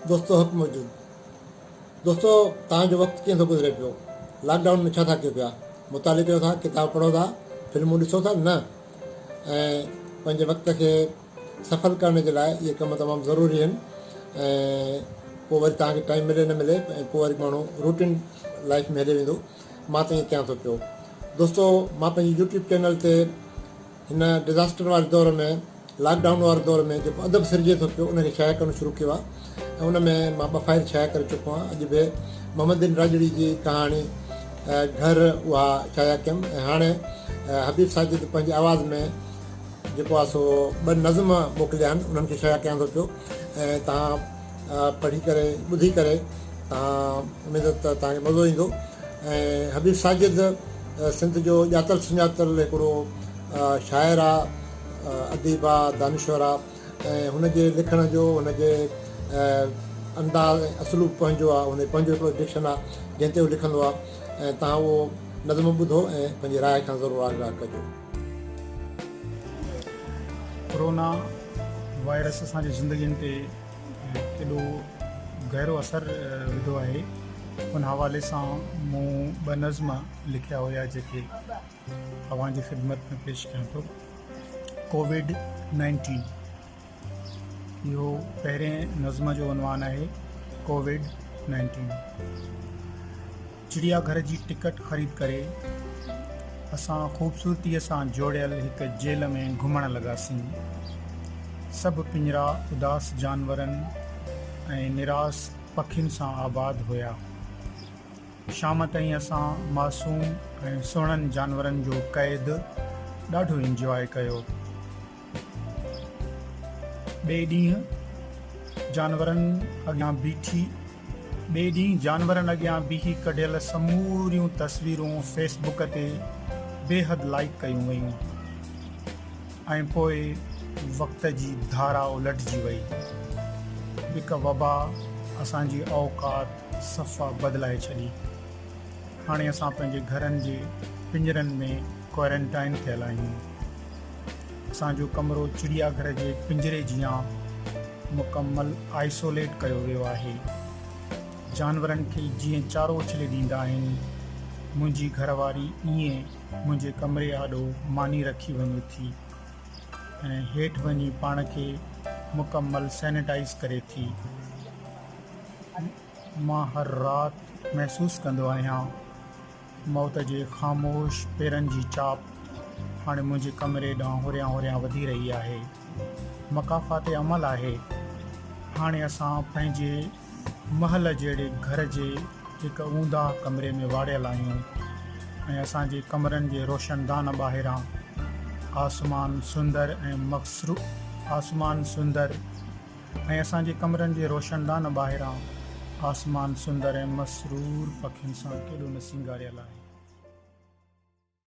دوستو حق موجود دوستو توهان جو وقت ڪيئن ٿو گذري پيو لاڪ ڊائون ۾ ڇا ٿا ڪيو پيا مطالعي ڪيو ٿا ڪتاب پڙهو ٿا فلمون ڏسو ٿا نه ۽ پنهنجي وقت کي سڦل ڪرڻ جي لاء اهي ڪم تمام ضروري آهن ۽ پوء وري توهان کي ٽائيم ملي نه ملي ۽ پوء وري ماڻهو روٽين لائيف ۾ هلي ويندو مان ته ائين ڪيان ٿو پيو دوستو مان پنهنجي يوٽيوب چينل تي هن ڊزاسٽر واري دور ۾ لاڪ ڊائون واري دور ۾ جيڪو ادب سرجي ٿو پيو ان کي شايع ڪرڻ شروع ڪيو آهي ۽ ان ۾ مان ٻه فائل شايع ڪري چڪو آهيان اڄ به محمد بن راڄڙي جي ڪهاڻي گهر اها شايع ڪيم ۽ هاڻي حبيب ساجد پنهنجي آواز ۾ جيڪو آهي سو ٻه نظم موڪليا آهن انهن کي شايع ڪيان ٿو پيو ۽ توهان پڙهي ڪري ٻڌي ڪري توهان اميد ته توهان کي مزو ايندو ۽ حبيب ساجد سنڌ جو ڄاتل سڃاتل هڪڙو شاعر آهي اديب آهي دانشور آهي ۽ هن جي لکڻ جو هن جي انداز ۽ اسلوب پنهنجو آهي هن جو پنهنجو هڪڙو ڊڪشن آهي جنهن تي هو لکندو آهي ۽ توهان اهو نظم ٻڌو ۽ پنهنجي راء کان ضرور آگاهه ڪجو ڪورونا وائرس اسان جي زندگين تي ڪيڏو گهرو اثر وڌو آهي ان حوالي سان مون ٻه نظم لکيا هيا جيڪي اوهان جي خدمت ۾ پيش ڪيان ٿو ڪوويڊ نائنٽين اهو پهرين نظم جو عنوان آهي ڪووڊ نائنٽين چڙيا گهر جي ٽڪٽ خريد ڪري اسان خوبصورتي سان جوڙيل هڪ جيل ۾ گهمڻ لڳاسين سڀ پڃرا اداس جانورن ۽ نراس پکين سان آباد هيا شام تائين اسان معصوم ۽ سهڻن جانورن جو قيد ڏاڍو انجواء ڪيو ٻئي ڏينهن جانورن اڳيان بيٺي ٻئي ڏينهن جانورن اڳيان بيهي ڪڍيل سموريون تصويرون فيس بڪ تي بيحد لائيڪ ڪيون ويون ۽ پوء وقت جي ڌارا الٽجي وئي هڪ وبا اسان جي اوقات صفا بدلائي ڇڏي هاڻي اسان پنهنجي گهرن جي پڃرن ۾ ڪوارنٽائن ٿيل آهيون. اسان جو ڪمرو چڙيا گهر جي پڃري جيان مڪمل آئسوليٽ ڪيو ويو آهي. جانورن کي جيئن چارو اڇلي ڏيندا آهن، منهنجي گهر واري ائين منهنجي ڪمري آڏو ماني رکي وڃي ٿي ۽ هيٺ وڃي پاڻ کي مڪمل سينيٽائيز ڪري ٿي. مان هر رات محسوس ڪندو آهيان. موت جي خاموش پيرن جي چاپ هاڻي منهنجي ڪمري ڏانهن هوريان هوريان وڌي رهي آهي. مڪافات عمل آهي. هاڻي اسان پنهنجي محل جهڙي گهر جي هڪ اونداهه ڪمري ۾ واڙيل آهيون ۽ اسان جي ڪمرن جي روشندان ٻاهران آسمان سندر ۽ آسمان سندر ۽ اسان جي ڪمرن جي روشندان ٻاهران آسمان سندر ۽ مسرور پکين سان ڪيڏو نه سينگاريل آهي.